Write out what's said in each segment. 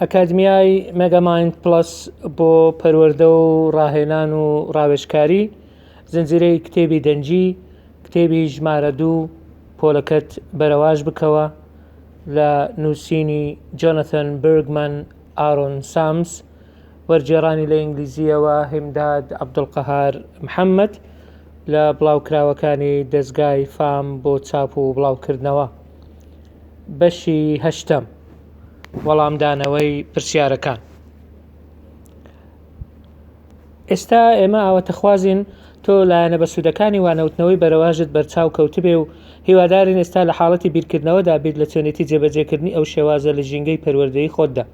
ئەکادمیای مێگامایند پڵەس بۆ پەروەردە و ڕاهێنان و ڕاوێژکاری زنجیرەی کتێبی دەنگی کتێبی ژمارە دوو پۆلەکەت بەرەواش بکەوە لە نووسینی جۆنەتن برگمەن ئارۆن سامس وەرگێڕانی لە ئینگلیزیەوە هیمداد عەبدولقەهار محەمەد لە بڵاوکراوەکانی دەزگای فام بۆ چاپ و بڵاوکردنەوە. بەشی هەشتەم وەڵامدانەوەی پرسیارەکان ئێستا ئێمە ئاوەتەخوازین تۆ لایەنە بەسوودەکانی وانەوتنەوەی بەرەواژت بەرچاو کەوتبێ و هیوادارین ئێستا لە حاڵەتی بیرکردنەوەدا بیت لە چۆنێتی جێبەجێکردنی ئەو شێوازە لە ژینگەی پەروەردەی خۆتدا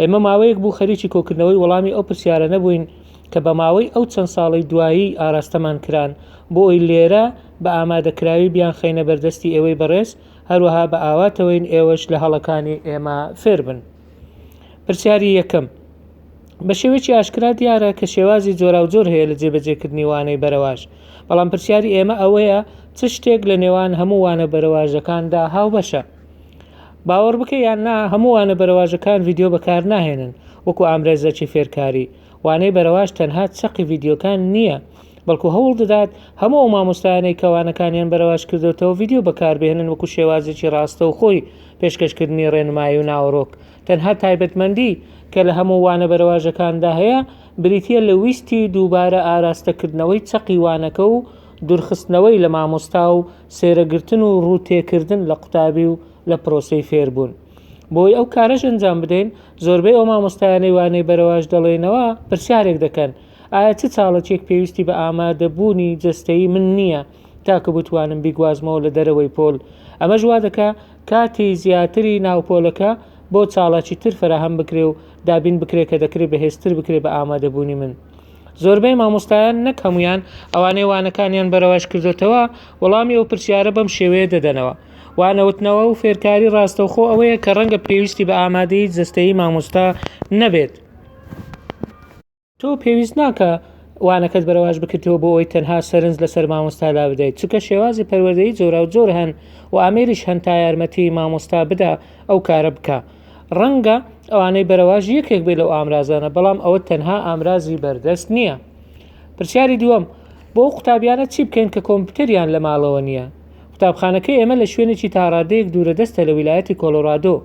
ئێمە ماوەیەک بوو خەریکی کۆکردنەوەی وەڵامی ئەو پرسیارە نەبووین کە بە ماوەی ئەو چەند ساڵی دوایی ئاراستەمان کران بۆ ئەوی لێرە بە ئامادەکراوی بیان خەینە بەردەستی ئێوەی بەڕێز هەروەها بە ئاواتەوەین ئێوەش لە هەڵەکانی ئێمە فێربن پرسیاری یەکەم بە شێوەیەکی ئاشکرا دیارە کە شێوازی جۆراوجۆر هەیە لە جێبەجێکردنی وانەی بەرەواش بەڵام پرسیاری ئێمە ئەوەیە چ شتێک لە نێوان هەموو وانە بەرەواژەکاندا هاوبەشە باوەڕ بکە یان نا هەموو وانە بەرەواژەکان ڤیدیۆ بەکارناهێنن وەکو ئامرێزەکی فێرکاری، وانەی بەرەواژ تەنها چەقی ڤیدیۆکان نییە، بەڵکو هەوڵ دەدات هەموو ئەو مامۆستایانەی کە وانەکانیان بەرەواژ کردۆتەوە ڤیدیۆ بەکاربهێنن وەکو شێوازێکی ڕاستەوخۆی پێشکەشکردنی ڕێنمایی و ناوەڕۆک، تەنها تایبەتمەندی کە لە هەموو وانە بەرەواژەکاندا هەیە بریتییە لە ویستی دووبارە ئاراستەکردنەوەی چەقی وانەکە و دورخستنەوەی لە مامۆستا و سێرەگرتن و ڕوو تێکردن لە قوتابی و لە پرۆسەی فێربوون. بۆی ئەو کارەش ئەنجام بدەین، زۆربەی ئەو مامۆستایانەی وانەی بەرەواش دەڵێنەوە، پرسیارێک دەکەن، ئایا چ چاڵەکێک پێویستی بە ئامادەبوونی جەستەیی من نییە تا کە بتوانم بیگوازمەوە لە دەرەوەی پۆل؟ ئەمەش وا دەکا کاتی زیاتری ناو پۆلەکە بۆ چاڵاکی تر فەراهەم بکرێ و دابین بکرێ کە دەکرێ بەهێزتر بکرێ بە ئامادەبوونی من. زۆربەی مامۆستایان نەک هەموویان ئەوانەی وانەکانیان بەرەواش کردۆتەوە وەڵامی ئەو پرسیارە بەم شێوەیە دەدەنەوە، وانەوتنەوە و فێرکاری ڕاستەوخۆ ئەوەیە کە ڕەنگە پێویستی بە ئامادەیی جەستەیی مامۆستا نەبێت، تۆ پێویست ناکا وانەکەت بەرەواش بکریتەوە بۆ ئەوەی تەنها سەرنج لەسەر مامۆستادا بدەیت، چونکە شێوازی پەروەردەیی جۆراوجۆر هەن و ئامێریش هەن تا یارمەتی مامۆستا بدا ئەو کارە بکا. ڕەنگە ئەوانەی بەرەواژ یەکێک بێ لەو ئامرازانە بەڵام ئەوە تەنها ئامرازی بەردەست نییە پرسیاری دووەم بۆ قوتابیانە چی بکەین کە کۆمپیوتەریان لە ماڵەوە نییە قوتابخانەکە ئێمە لە شوێنێکی تاڕادەیەک دوورە دەستە لە ویلایەتی کۆلۆرادۆ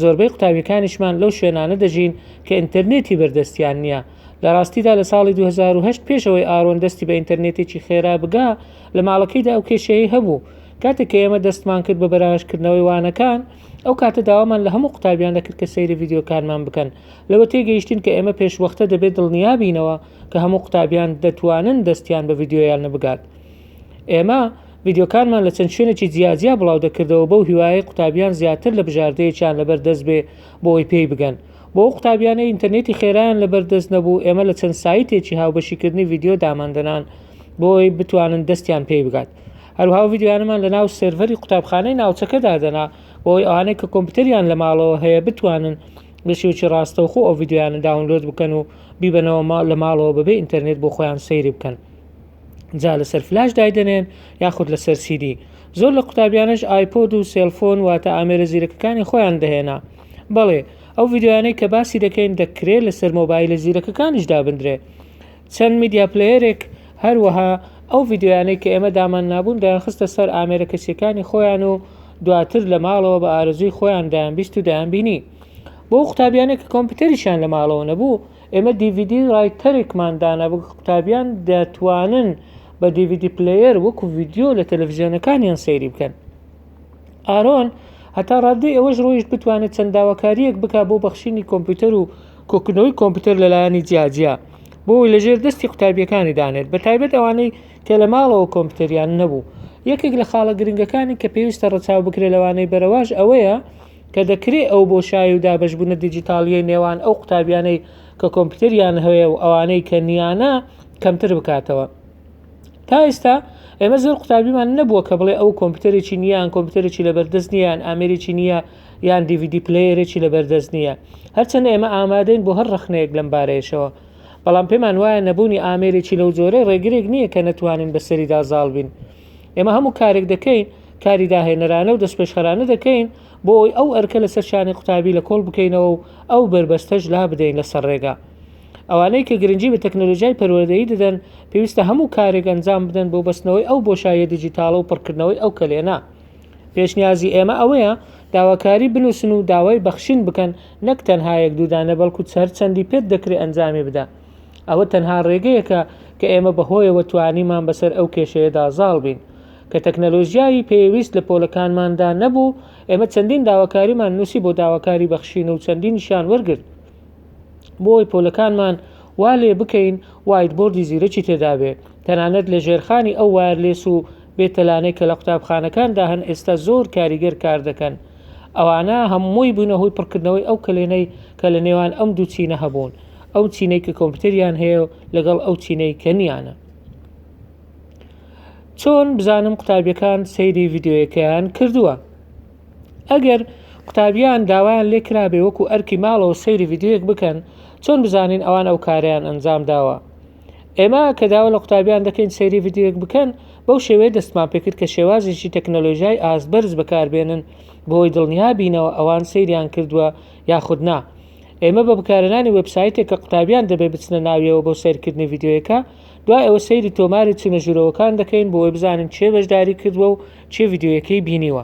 زۆربەی قوتابیەکانیشمان لەو شوێنانە دەژین کە ئینتەرنێتی بەردەستیان نییە لە ڕاستیدا لە ساڵی 2010 پێشەوەی ئارۆن دەستی بە ئینتەرنێتێکی خێرا بگا لە ماڵەکەیدا ئەو کێشەیە هەبوو کاتێک کە ئێمە دەستمان کرد بە بەراهشکردنەوەی وانەکان ئەو کاتە داوامان لە هەموو قوتابیان دەکرد کە سەیری ڤیدیۆکانمان بکەن لەوە تێگەیشتین کە ئێمە پێشوەختە دەبێت دڵنیابینەوە کە هەموو قوتابیان دەتوانن دەستیان بە ڤیدیۆیانە بگات ئێمە ڤیدیۆکانمان لە چەند شوێنێکی جیاجیا بڵاو دەکردەوە بەو هیوایە قوتابیان زیاتر لە بژاردەیەکیان لەبەر دەست بێ بۆی پێی بگەن بۆ ئەو قوتابیانە ئینتەرنێتی خێرایان لەبەر دەست نەبوو ئێمە لە چەند سایتێکی هاوبەشیکردنی ڤیدیۆ داماندەنان بۆی بتوانن دەستیان پێی بگات هەروها ئەو ڤیدیۆیانەمان لە ناو سێرڤەری قوتابخانەی ناوچەکە دادەنا بۆی ئەوانەی کە کۆمپیوتەریان لە ماڵەوە هەیە بتوانن بە شێوەی ڕاستەوخۆ ئەو ڤیدیۆیانە داونلۆد بکەن و بیبەنەوە ما- لە ماڵەوە بەبێ ئینتەرنێت بۆ خۆیان سەیری بکەن جا لەسەر فلاش دایدەنێن یاخود لەسەر سیدی زۆر لە قوتابیانش ئایپۆد و سێلفۆن واتە ئامێرە زیرەکەکانی خۆیان دەهێنا بەڵێ ئەو ڤیدیۆیانەی کە باسی دەکەین دەکرێت لەسەر مۆبایلە زیرەکەکانیش دابندرێ چەند میدیا پلەیەرێک هەروەها ئەو ڤیدیۆیانەی کە ئێمە داماننابوون دەیانخستە سەر ئامێرە کەسییەکانی خۆیان و دواتر لە ماڵەوە بە ئارەزووی خۆیان دەیانبیست و دەیانبینی. بۆ ئەو قوتابیانەی کە کۆمپیوتەریشیان لە ماڵەوە نەبوو، ئێمە دی ڤی دی رایتەرێکمان دانا بۆ قوتابیان دەتوانن بە دی ڤی دی پلەیەر وەکو ڤیدیۆ لە تەلەفزیۆنەکانیان سەیری بکەن. ئارۆن هەتا ڕاددەی ئەوەش ڕۆیشت بتوانێت چەند داواکاریەک بک بۆ بەخشینی کۆمپیوتەر و کۆکردنەوەی کۆمپیوتەر لەلایەنی جیاجیا بۆی لەژێر دەستی قوتابیەکانی دانێت بە تایبەت ئەوانەی کە لە ماڵەوە کۆمپیوتەریان نەبوو یەکێک لە خاڵە گرنگەکانی کە پێویستە ڕەچاو بکرێ لەوانەی بەرەواش ئەوەیە کە دەکرێت ئەو بۆ شای و دابشبوونە دیجیتاالیە نێوان ئەو قوتابیانەی کە کۆمپیوتەریان هەیە و ئەوانەی کە نیانە کەمتر بکاتەوە تا ئێستا ئێمە زۆر قوتابیمان نەبووە کە بڵێ ئەو کۆمپیوتەرێکی نیان کۆمپیوتەرێکی لە بەردەست نیان ئامێرێکی نییە یان دیVیدی پلەیەرێکی لە بەردەست نییە هەرچەنە ئێمە ئامادەین بۆ هەر ڕخنەیەک لەم بارەیەشەوە بەڵام پێمان وایە نەبوونی ئامێرێکی لەو جۆرە ڕێگرێک نییە کە نەتوانین بەسەریدا زاڵ بین ئێمە هەموو کارێک دەکەین کاری داهێنەرانە و دەستپێشخەرانە دەکەین بۆ ئەوی ئەو ئەرکە لەسەر شانی قوتابی لە کۆڵ بکەینەوە و ئەو بەربەستەش لا بدەین لەسەر ڕێگا ئەوانەی کە گرنگی بە تەکنەلۆژیای پەروەردەیی دەدەن پێویستە هەموو کارێک ئەنجام بدەن بۆ بەستنەوەی ئەو بۆشایە دیجیتاڵە و پڕکردنەوەی ئەو کەلێنە پێشنیازی ئێمە ئەوەیە داواکاری بنووسن و داوای بەخشین بکەن نەک تەنها یەک دوودانە بەڵکو هەر چەندی پێت دەکرێت ئەنجامی بدە ئەوە تەنها ڕێگەیەکە کە ئێمە بەهۆیەوە توانیمان بەسەر ئەو کێشەیەدا زاڵ بین کە تەکنەلۆژیایی پێویست لە پۆلەکانماندا نەبوو ئێمە چەندین داواکاریمان نووسی بۆ داواکاری بەخشین و چەندینشیان وەرگرت بۆ ئەوەی پۆلەکانمان وا لێ بکەین وایت بۆردی زیرەکی تێدابێت تەنانەت لە ژێرخانی ئەو وایرلێس و بێتەلانەی کە لە قوتابخانەکاندا هەن ئێستا زۆر کاریگەر کار دەکەن ئەوانە هەمووی بوونە هۆی پڕکردنەوەی ئەو کەلێنەی کە لە نێوان ئەم دوو چینە هەبوون ئەو چینەی کە کۆمپیوتەریان هەیە لەگەڵ ئەو چینەی کە نیانە چۆن بزانم قوتابیەکان سەیری ڤیددیوەکەیان کردووە ئەگەر قوتابیان داوایان لێ کرابێ وەکو ئەرکی ماڵەوە سەیری ڤیدیۆیەک بکەن چۆن بزانین ئەوان ئەو کارەیان ئەنجام داوە ئێمە کە داوا لە قوتابیان دەکەین سەیری ڤیدیۆیەک بکەن بەو شێوەیە دەستمان پێکرد کە شێوازێکی تەکنەلۆژیای ئاست بەرز بەکاربێنن بۆی دڵنیا بینەوە ئەوان سەیریان کردووە یاخود نا ئێمە بە بکارەنانی وبسایتێک کە قوتابیان دەبێ بچنە ناویەوە بۆ سیرکردنی ڤیددیوەکە دوای ئەوە سەیری تۆماری چونە ژوورەوەکان دەکەین بۆی بزانین چێ بەشداری کردووە و چێ ڤیدیۆیەکەی بینیوە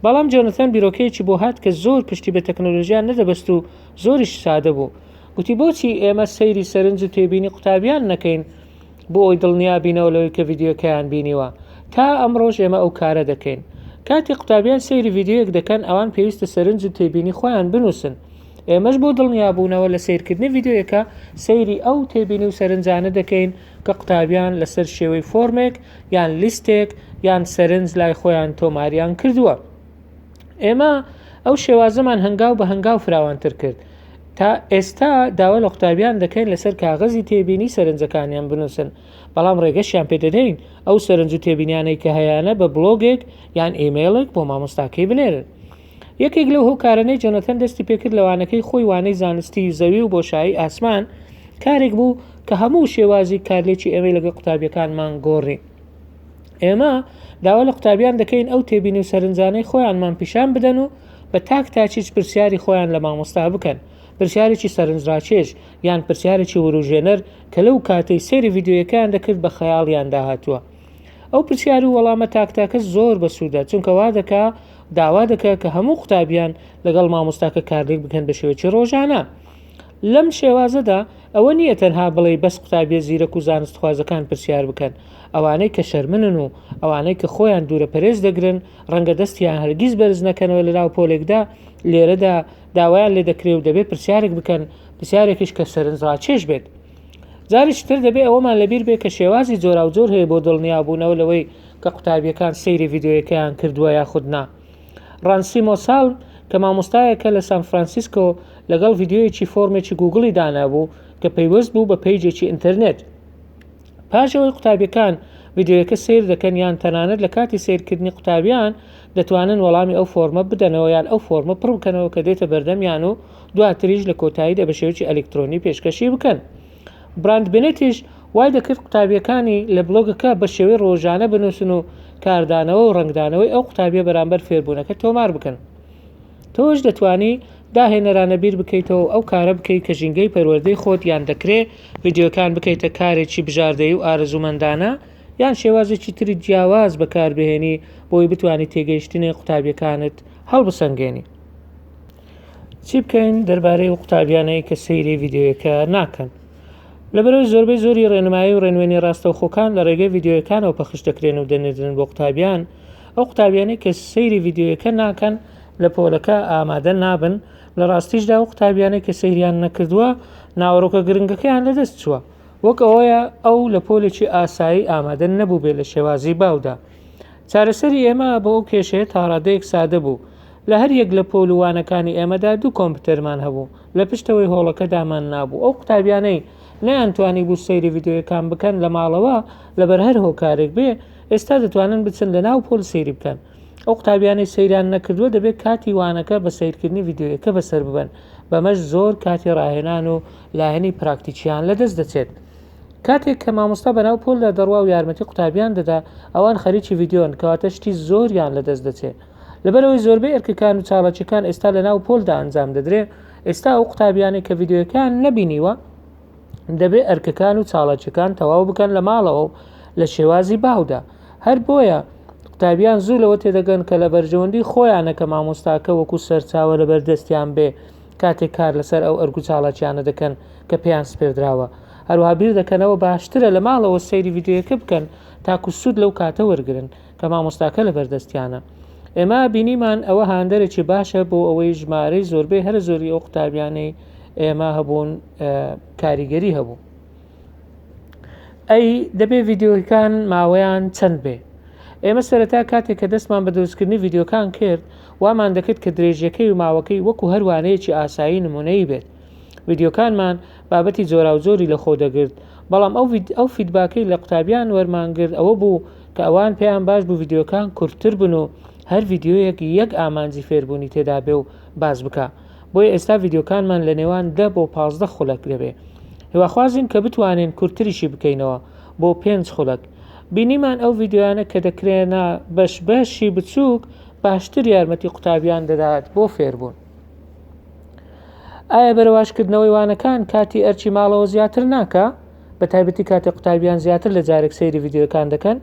بەڵام جۆنەسان بیرۆکەیەکی بۆ هات کە زۆر پشتی بە تەکنۆلۆژیان نەدەبەست و زۆریش سادە بوو گوتی بۆچی ئێمە سەیری سەرنج و تێبینی قوتابیان نەکەین بۆ ئەوی دڵنیا بینەوە لەوەی کە ڤیددیوکەیان بینیوە تا ئەم ڕۆژ ئێمە ئەو کارە دەکەین کاتی قوتابیان سەیری ڤیددیوەک دەکەن ئەوان پێویستە سەرنج و تێبینی خۆیان بنووسن ئێمەش بۆ دڵنیابوونەوە لە سیرکردنی ڤیددیوەکە سەیری ئەو تێبینی و سەرنجانە دەکەین کە قوتابیان لەسەر شێوەی فۆرمێک یان لیستێک یان سەرنج لای خۆیان تۆماریان کردووە ئێمە ئەو شێوازەمان هەنگاو بە هەنگاو فراوانتر کرد تا ئێستا داوا لە قوتابیان دەکەین لەسەر کاغەزی تێبینی سەرنجەکانیان بنووسن بەڵام ڕێگەشیان پێدەدەین ئەو سەرنج و تێبینیانەی کە هەیانە بە بلۆگێک یان ئیمەیلێک بۆ مامۆستاکەی بنێرن یەکێک لەو هۆکارەنەی جۆنەتەن دەستی پێکرد لە وانەکەی خۆی وانەی زانستی زەوی و بۆشایی ئاسمان کارێک بوو کە هەموو شێوازی کارلێکی ئێمەی لەگە قوتابیەکانمان گۆڕی ئێمە داوا لە قوتابیان دەکەین ئەو تێبین و سەرنجانەی خۆیانمان پیشان بدەن و بە تاک تاچیچ پرسیاری خۆیان لە مامۆستا بکەن پرسیارێکی سەرنجڕاکێش یان پرسیارێکی وروژێنەر کە لەو کاتەی سێری یددیوەکان دەکرد بە خەیاڵیان داهاتووە ئەو پرسیار و وەڵامە تاک تاکە زۆر بەسوودە چونکە وا دەکا داوا دەکە کە هەموو قوتابیان لەگەڵ مامۆستاکە کارلێک بکەن بە شێوەی ڕۆژانە لەم شێوازەدا ئەوە نییە تەنها بڵێ بەس قوتابیە زیرەک و زانستخوازەکان پرسیار بکەن ئەوانەی کە شەرمنن و ئەوانەی کە خۆیان دوورە پەرێز دەگرن ڕەنگە دەستیان هەرگیز بەرز نەکەنەوە لە ناو پۆلێکدا لێرەدا داوایان لێ دەکرێ و دەبێت پرسیارێک بکەن پرسیارێکیش کە سەرنج ڕاکێش بێت جارێکی تر دەبێت ئەوەمان لەبیر بێت کە شێوازی جۆراوجۆر هەیە بۆ دڵنیابوونەوە لەوەی کە قوتابیەکان سەیری ڤیدیۆیەکەیان کردووە یاخود نا ڕانسی مۆساڵ کە مامۆستایەکە لە سان فرانسیسکۆ لەگەڵ ڤیددیویەکی فۆرمێکی گوگڵی دانابوو کە پەیوەست بوو بە پەیجێکی ئینتەرنێت پاشەوەی قوتابیەکان ڤیددیوەکە سیر دەکەن یان تەنانەت لە کاتی سیرکردنی قوتابیان دەتوانن وەڵامی ئەو فۆرمە بدەنەوە یان ئەو فۆرمە پڕ بکەنەوە کە دێتە بەردەمیان و دواتریش لە کۆتاییدا بە شێوەیەکی ئەلیکترۆنی پێشکەشی بکەن. براند بنێتیش وای دەکرد قوتابییەکانی لە بڵۆگەکە بە شێوەی ڕۆژانە بنووسن و کاردانەوە و ڕەنگدانەوەی ئەو قوتابییە بەرامبەر فێربوونەکە تۆمار بکەن. تۆش دەتوانی داهێنەرانە بیر بکەیتەوە و ئەو کارە بکەیت کە ژینگەی پەروەردەی خۆت یان دەکرێت ڤیدیۆکان بکەیتە کارێکی بژاردەیی و ئارەزوومەندانە یان شێوازێکی تری جیاواز بەکاربهێنی بۆی بتوانی تێگەیشتنی قوتابییەکانت هەڵبسەنگێنی. چی بکەین دەربارەی و قوتابیانەی کە سەیری ڤیددیوەکە ناکەن لەبەرەوەی زۆربەی زۆری ڕێنمایی و ڕێنوێنی ڕاستەوخۆکان لە ڕێگەی ڤیددیوەکانەوە پەخش دەکرێن و دەنێدرن بۆ قوتابیان ئەو قوتابیانی کە سەیری ڤیددیوەکە ناکەن لە پۆلەکە ئامادە نابن لە ڕاستیشدا و قوتابیانی کە سەیریان نەکردووە ناوەڕۆکە گرنگەکەیان لەدەست چووە وەک ئەوەیە ئەو لە پۆلێکی ئاسایی ئامادە نەبوو بێ لە شێوازی باودا چارەسەری ئێمە بۆ ئەو کێشەیە تاڕادەیەک سادە بوو لە هەر یەک لە پۆل و وانەکانی ئێمەدا دوو کۆمپیوتەرمان هەبوو لە پشتەوەی هۆڵەکەدامان نابوو ئەو قوتابیانەی نەیانتوانی بوو سەیری ڤیددیوەکان بکەن لە ماڵەوە لەبەر هەر هۆکارێک بێ ئێستا دەتوانن بچن لە ناو پۆل سەیری بکەن ئەو قوتابیانەی سەیران نەکردووە دەبێت کاتی وانەکە بە سیرکردنی ڤیددیوەکە بەسەر ببن بەمەش زۆر کاتی ڕاهێنان و لایەنی پراکتیکیان لەدەست دەچێت کاتێک کە مامۆستا بەناو پۆلدا دەڕوا و یارمەتی قوتابیان دەدا ئەوان خەریکی ڤیدیۆن کەواتە شتی زۆریان لەدەست دەچێ لەبەرەوەی زۆربەی ئەرکەکان و چاڵاکیەکان ئێستا لەناو پۆلدا ئەنجام دەدرێ ئێستا ئەو قوتابیانەی کە ڤیدیۆیەکەیان نەبینیوە دەبێ ئەرکەکان و چاڵاکیەکان تەواو بکەن لە ماڵەوە و لە شێوازی باودا هەر بۆیە قوتابیان زوو لەوە تێدەگەن کە لە بەرژەوەندی خۆیانە کە مامۆستاکە وەکو سەرچاوە لەبەردەستیان بێ کاتێک کار لەسەر ئەو ئەرک و چاڵاکیانە دەکەن کە پێیان سپێردراوە هەروەها بیر دەکەنەوە باشترە لە ماڵەوە سەیری ڤیدیۆیەکە بکەن تاکو سوود لەو کاتە وەرگرن کە مامۆستاکە لەبەردەستیانە ئێمە بینیمان ئەوە هاندەرێکی باشە بۆ ئەوەی ژمارەی زۆربەی هەرە زۆری ئەو قوتابیانەی ئێمە هەبوون کاریگەری هەبوو ئەی دەبێ ڤیددیوەکان ماوەیان چەند بێ ئێمە سەرەتا کاتێک کە دەستمان بە دروستکردنی ڤیددیوکان کرد وامان دەکرد کە درێژیەکەی و ماوەکەی وەکو هەروانەیەکی ئاسایی نمونەیی بێت ڤیددیوکانمان بابەتی جۆرا و جۆری لە خۆ دەگرت بەڵام ئەو ئەو فیدباکەی لە قوتابیان وەرمانگررت ئەوە بوو کە ئەوان پێیان باش بوو ڤیددیوکان کورتتر بن و هەر ڤیددیوەک یەک ئامانجی فێربوونی تێدا بێ و باز بکە بۆیە ئێستا ڤیدیۆکانمان لە نێوان دە بۆ پازدە خولەک دەبێ هیواخوازین کە بتوانین کورتتریشی بکەینەوە بۆ پێنج خولەک بینیمان ئەو ڤیددیویانە کە دەکرێنە بەش بەشی بچووک باشتر یارمەتی قوتابیان دەدات بۆ فێربوون ئایا بەرەواشکردنەوەی وانەکان کاتی ئەرچی ماڵەوە زیاتر ناکە بە تایبەتی کاتێ قوتابیان زیاتر لە جارێک سەیری ڤیددیوەکان دەکەن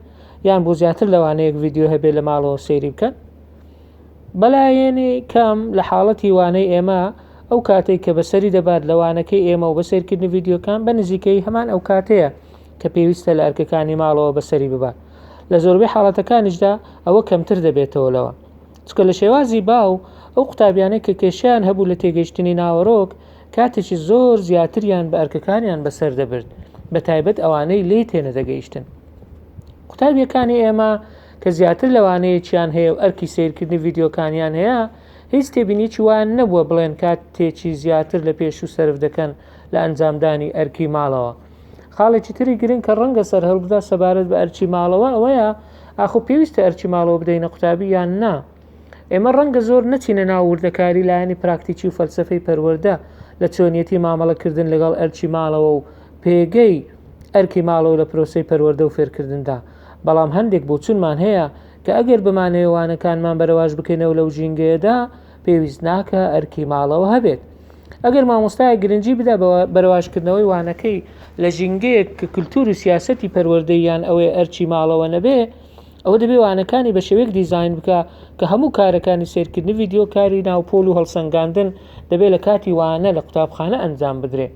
یان بۆ زیاتر لەوانەیەک ڤیددیو هەبێ لە ماڵەوە سەیری بکەن بەلایەنی کەم لە حاڵەتی وانەی ئێمە ئەو کاتێک کە بەسەری دەبات لە وانەکەی ئێمە و بە سەیرکردنی ڤیدیۆکان بە نزیکەی هەمان ئەو کاتەیە کە پێویستە لە ئەرکەکانی ماڵەوە بەسەری ببات لە زۆربەی حاڵەتەکانیشدا ئەوە کەمتر دەبێتەوە لەوە چکە لە شێوازی باو ئەو قوتابیانەی کە کێشیان هەبوو لە تێگەیشتنی ناوەرۆک کاتێکی زۆر زیاتریان بە ئەرکەکانیان بەسەر دەبرد بە تایبەت ئەوانەی لێی تێنەدەگەیشتن قوتابیەکانی ئێمە کە زیاتر لەوانەیەکیان هەیە و ئەرکی سەیرکردنی ڤیدیۆکانیان هەیە، هیچ تێبینیەکی وایان نەبووە بڵێن کاتێکی زیاتر لە پێشوو سەرف دەکەن لە ئەنجامدانی ئەرکی ماڵەوە. خاڵێکی تری گرنگ کە ڕەنگە سەرهەڵبدا سەبارەت بە ئەرکی ماڵەوە ئەوەیە ئاخۆ پێویستە ئەرکی ماڵەوە بدەینە قوتابی یان نا؟ ئێمە ڕەنگە زۆر نەچینە ناو وردەکاری لایەنی پراکتیکی و فەلسەفەی پەروەردە لە چۆنیەتی مامەڵەکردن لەگەڵ ئەرکی ماڵەوە و پێگەی ئەرکی ماڵەوە لە پرۆسەی پەروەردە و فێرکردندا. بەڵام هەندێک بۆچونمان هەیە کە ئەگەر بمانەوێ وانەکانمان بەرەواژ بکەینەوە لەو ژینگەیەدا پێویست ناکە ئەرکی ماڵەوە هەبێت ئەگەر مامۆستای گرنگجی بدا بەرەواژکردنەوەی وانەکەی لە ژینگەیەک کە کللتور و سیاستی پەروەردەیان ئەوەی ئەرچی ماڵەوە نەبێ ئەوە دەبێ وانەکانی بە شێوەیەک دیزین بکە کە هەموو کارەکانی سێرکردنی ڤیددیو کاری ناوپۆل و هەڵسەنگاندن دەبێت لە کاتی وانە لە قوتابخانە ئەنجام بدرێت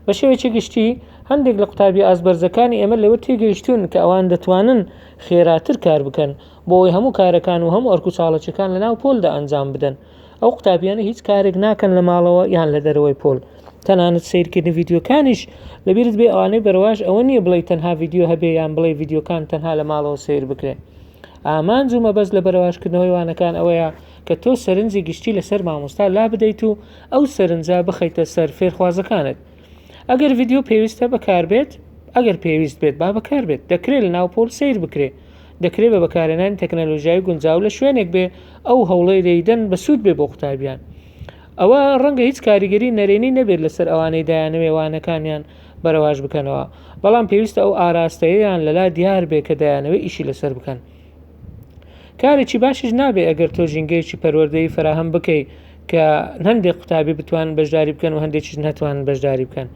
بە شێوەیەکی گشتی هەندێک لە قوتابی ئازبەرزەکانی ئێمە لەوە تێگەیشتون کە ئەوان دەتوانن خێراتر کار بکەن بۆ ئەوی هەموو کارەکان و هەموو ئەرک و چاڵەچەکان لە ناو پۆلدا ئەنجام بدەن ئەو قوتابیانە هیچ کارێک ناکەن لە ماڵەوە یان لە دەرەوەی پۆل تەنانەت سیرکردنی ڤیددیوکانیش لەبیرت بێ ئەوانەی بەرەواش ئەوە نییە بڵێ تەنها ڤیددیو هەبێ یان بڵێ ڤیددیوکان تەنها لە ماڵەوە سیر بکرێن ئامانج و مەبەست لە بەرەواشکردنەوەی وانەکان ئەوەیە کە تۆ سەرنجی گشتی لەسەر مامۆستا لا بدەیت و ئەو سەرنجە بخەیتە سەر فێرخوازەکانت ئەگەر ڤیدیۆ پێویستە بەکاربێت ئەگەر پێویست بێت با بەکاربێت دەکرێت لە ناو پۆل سەیر بکرێ دەکرێت بە بەکارێنانی تەکنەلۆژیای گونجاو لە شوێنێک بێ ئەو هەوڵەی لێیدەن بەسوود بێ بۆ قوتابیان ئەوە ڕەنگە هیچ کاریگەری نەرێنی نەبێت لەسەر ئەوانەی دایانەوێ وانەکانیان بەرەواش بکەنەوە بەڵام پێویستە ئەو ئاراستەیەیان لەلا دیار بێ کە دایانەوێ ئیشی لەسەر بکەن کارێکی باشیش نابێ ئەگەر تۆ ژینگەیەکی پەروەردەی فراهەم بکەیت کە هەندێک قوتابی بتوان بەشداری بکەن و هەندێکیش نەتوان بەشداری بکەن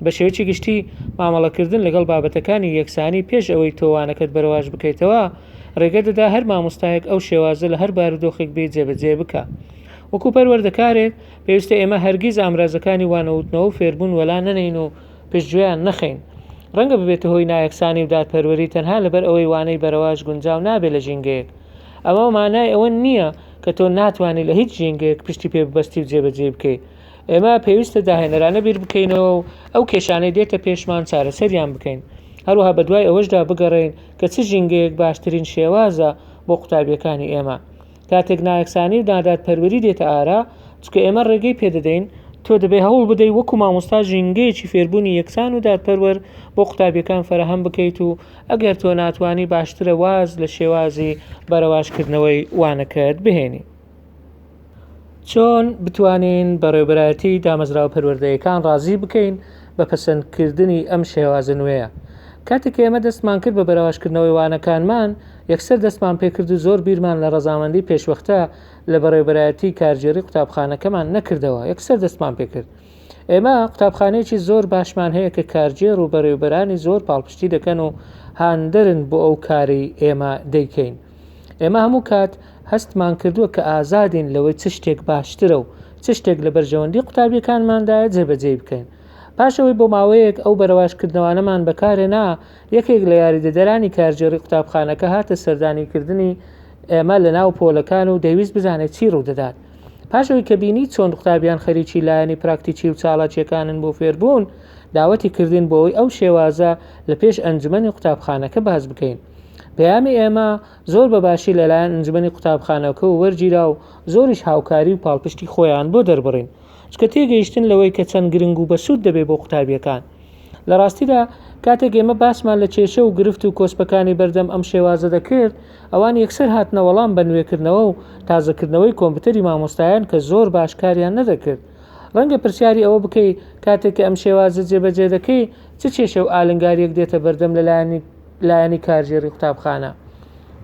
بە شێوەیەکی گشتی مامەڵەکردن لەگەڵ بابەتەکانی یەکسانی پێش ئەوەی تۆوانەکەت بەرەواش بکەیتەوە ڕێگە دەدا هەر مامۆستایەک ئەو شێوازە لە هەر بارودۆخێک بێ جێبەجێ بکە وەکو پەروەردەکارێک پێویستە ئێمە هەرگیز ئامرازەکانی وانەوتنەوە و فێربوون وەلا نەنین و پشتگوێیان نەخەین. ڕەنگە ببێتە هۆی نایەکسانی و دادپەروەری تەنها لەبەر ئەوەی وانەی بەرەواژ گونجاو نابێت لە ژینگەیەک. ئەمە مانای ئەوە نییە کە تۆ ناتوانی لە هیچ ژینگەیەک پشتی پێ ببەستی و جێبەجێی بکەی. ئێمە پێویستە داهێنەرانە بیر بکەینەوە و ئەو کێشانەی دێتە پێشمان چارەسەریان بکەین. هەروەها بەدوای ئەوەشدا بگەڕێین کە چ ژینگەیەک باشترین شێوازە بۆ قوتابییەکانی ئێمە. کاتێک نایەکسانی و نادادپەروەری دێتە ئارا، چونکە ئێمە ڕێگەی پێدەدەین، تۆ دەبێت هەوڵ بدەیت وەکو مامۆستا ژینگەیەکی فێربوونی یەکسان و دادپەروەر بۆ قوتابیەکان فەراهەم بکەیت و ئەگەر تۆ ناتوانی باشترە واز لە شێوازی بەرەواژکردنەوەی وانەکەت بهێنی. چۆن بتوانین بەڕێوبەرایەتی دامەزراوە پەروەردەیەکان ڕازی بکەین بە پەسەندکردنی ئەم شێوازە نوێیە؟ کاتێک کە ئێمە دەستمان کرد بە بەرەواشکردنەوەی وانەکانمان، یەکسەر دەستمان پێکرد و زۆر بیرمان لە ڕەزامەندی پێشوەختە لە بەڕێوبەرایەتی کارگێڕی قوتابخانەکەمان نەکردەوە، یەکسەر دەستمان پێکرد. ئێمە قوتابخانەیەکی زۆر باشمان هەیە کە کارگێڕ و بەڕێوبەرانی زۆر پاڵپشتی دەکەن و هاندەرن بۆ ئەو کارەی ئێمە دەیکەین. ئێمە هەموو کات هەستمان کردووە کە ئازادین لەوەی چ شتێک باشترە و چ شتێک لە بەرژەوەندی قوتابیەکانماندایە جێبەجێ بکەین پاشەوەی بۆ ماوەیەک ئەو بەرەواشکردنەوانەمان بەکارێنا یەکێک لە یاریدەدەرانی کارگێڕی قوتابخانەکە هاتە سەردانیکردنی ئێمە لە ناو پۆلەکان و دەویست بزانێت چی ڕوودەدات پاشەوەی کە بینی چۆن قوتابیان خەریکی لایەنی پراکتیکی و چاڵاکیەکانن بۆ فێربوون داوەتی کردین بۆی ئەو شێوازە لە پێش ئەنجومەنی قوتابخانەکە باز بکەین پەیامی ئێمە زۆر بە باشی لەلایەن ئەنجومەنی قوتابخانەکە و وەرگیرا و زۆریش هاوکاری و پاڵپشتی خۆیان بۆ دەربڕین چکە تێگەیشتن لەوەی کە چەند گرنگ و بەسوود دەبێت بۆ قوتابیەکان لە ڕاستیدا کاتێک ئێمە باسمان لە کێشە و گرفت و کۆسپەکانی بەردەم ئەم شێوازە دەکرد ئەوان یەکسەر هاتنە وەڵام بە نوێکردنەوە و تازەکردنەوەی کۆمپیوتەری مامۆستایان کە زۆر باش کاریان نەدەکرد ڕەنگە پرسیاری ئەوە بکەی کاتێک کە ئەم شێوازە جێبەجێ دەکەی چ کێشە و ئالنگاریەک دێتە بەردەم لەلایەنی لایەنی کارگێڕی قوتابخانە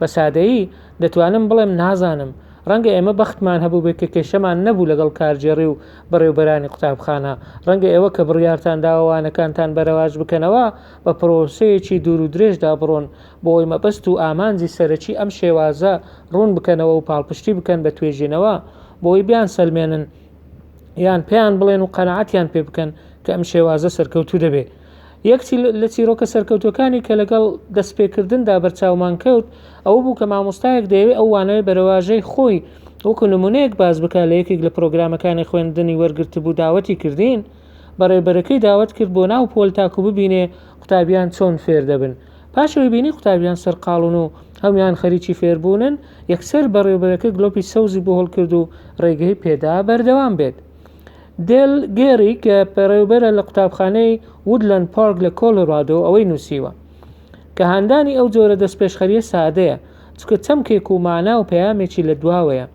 بە سادەیی دەتوانم بڵێم نازانم ڕەنگە ئێمە بەختمان هەبوو بێت کە کێشەمان نەبوو لەگەڵ کارگێڕی و بەڕێوبەرانی قوتابخانە ڕەنگە ئێوە کە بڕیارتان داوانەکانتان بەرەواج بکەنەوە بە پرۆسەیەکی دوور و درێژدا بڕۆن بۆ ئەوی مەبەست و ئامانجی سەرەکی ئەم شێوازە ڕوون بکەنەوە و پاڵپشتی بکەن بە توێژینەوە بۆی بیان سەلمێنن یان پێیان بڵێن و قەنەعاتیان پێ بکەن کە ئەم شێوازە سەرکەوتوو دەبێت یەک لە چیرۆکە سەرکەوتووەکانی کە لەگەڵ دەستپێکردندا بەرچاومان کەوت ئەوە بوو کە مامۆستایەک دەیەوێت ئەو وانەیە بەرەواژەی خۆی وەکو نمونەیەک باس بکە لە یەکێک لە پرۆگرامەکانی خوێندنی وەرگرتبوو داوەتی کردین بەڕێبەرەکەی داوەت کرد بۆ ناو پۆل تاکو ببینێ قوتابیان چۆن فێر دەبن پاشەوەی بینی قوتابیان سەرقاڵون و هەموان خەریکی فێربوونن یەکسەر بەڕێوبەرەکە گلۆپی سەوزی بۆ هەڵکرد و ڕێگەی پێدا بەردەوام بێت دێل گێری کە پەرێوبەرە لە قوتابخانەی وودلەند پارک لە کۆلۆرادۆ ئەوەی نووسیوە کە هاندانی ئەو جۆرە دەستپێشخەرییە سادەیە چونکە چەمکێک و مانا و پەیامێکی لەدواوەیە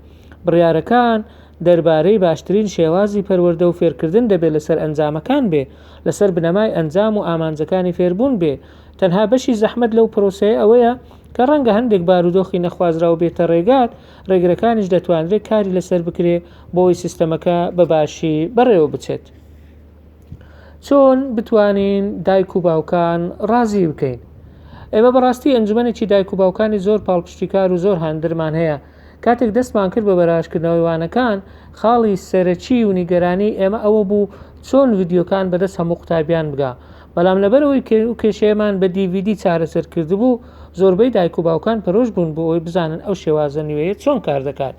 بڕیارەکان دەربارەی باشترین شێوازی پەروەردە و فێرکردن دەبێت لەسەر ئەنجامەکان بێ لەسەر بنەمای ئەنجام و ئامانجەکانی فێربوون بێ تەنها بەشی زەحمەت لەو پرۆسەیە ئەوەیە کە ڕەنگە هەندێک بارودۆخی نەخوازراو بێتە ڕێگات ڕێگرەکانیش دەتوانرێت کاری لەسەر بکرێ بۆی سیستەمەکە بەباشی بەڕێوە بچێت چۆن بتوانین دایک و باوکان ڕازی بکەین ئێمە بەڕاستی ئەنجومەنێکی دایک و باوکانی زۆر پاڵپشتیکار و زۆر هاندرمان هەیە کاتێک دەستمان کرد بە بەراشکردنەوەی وانەکان خاڵی سەرەکی و نیگەرانی ئێمە ئەوە بوو چۆن ڤیددیوکان بەدەست هەموو قوتابیان بگا بەڵام لەبەرئەوەی کە ئەو کێشەیەمان بە DVD چارەسەر کردبوو، زۆربەی دایک و باوکان پەرۆش بوون بۆ ئەوەی بزانن ئەو شێوازە نوێیە چۆن کار دەکات.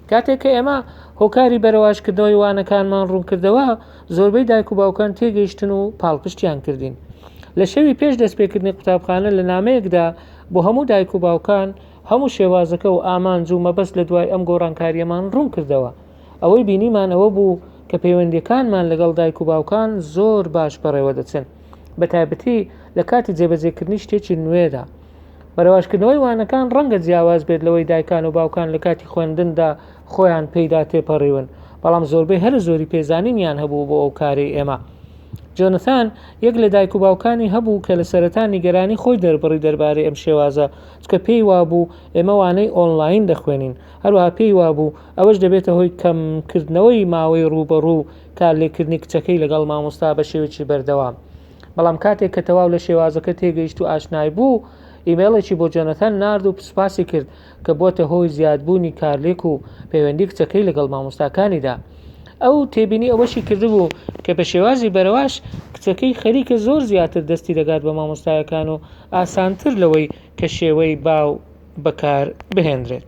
کاتێک کە ئێمە هۆکاری بەرەواژکردنەوەی وانەکانمان ڕوونکردەوە، زۆربەی دایک و باوکان تێگەیشتن و پاڵپشتیان کردین. لە شەوی پێش دەستپێکردنی قوتابخانە لە نامەیەکدا بۆ هەموو دایک و باوکان هەموو شێوازەکە و ئامانج و مەبەست لە دوای ئەم گۆڕانکارییەمان ڕوونکردەوە. ئەوەی بینیمان ئەوە بوو کە پەیوەندیەکانمان لەگەڵ دایک و باوکان زۆر باش بەڕێوە دەچن بە تایبەتی لە کاتی جێبەجێکردنی شتێکی نوێدا بەرەواشکردنەوەی وانەکان ڕەنگە جیاواز بێت لەوەی دایکان و باوکان لە کاتی خوێندندا خۆیان پێیدا تێپەڕیون بەڵام زۆربەی هەر زۆری پێزانینیان هەبوو بۆ ئەو کارەی ئێمە جۆنثان یەک لە دایک و باوکانی هەبوو کە لە سەرەتا نیگەرانی خۆی دەربڕی دەربارەی ئەم شێوازە چکە پێی وابوو ئێمەوانەی ئۆنلاین دەخوێنین هەروها پێی وابوو ئەوەش دەبێتە هۆی کەمکردنەوەی ماوەی ڕووبەڕوو کارلێککردنی کچەکەی لەگەڵ مامۆستا بە شێوەیەکی بەردەوام. بەڵام کاتێک کە تەواو لە شێوازەکە تێگەیشت و ئاشنای بوو، ئیمەیڵێکی بۆ جۆنەتان نارد و سوپاسی کرد کە بووەتە هۆی زیادبوونی کارلێک و پەیوەندی کچەکەی لەگەڵ مامۆستاکانیدا. ئەو تێبینی ئەوەشی کردبوو کە بە شێوازی بەرەواش کچەکەی خەریکە زۆر زیاتر دەستی دەگات بە مامۆستایەکان و ئاسانتر لەوەی کە شێوەی باو بەکار بهێندرێت.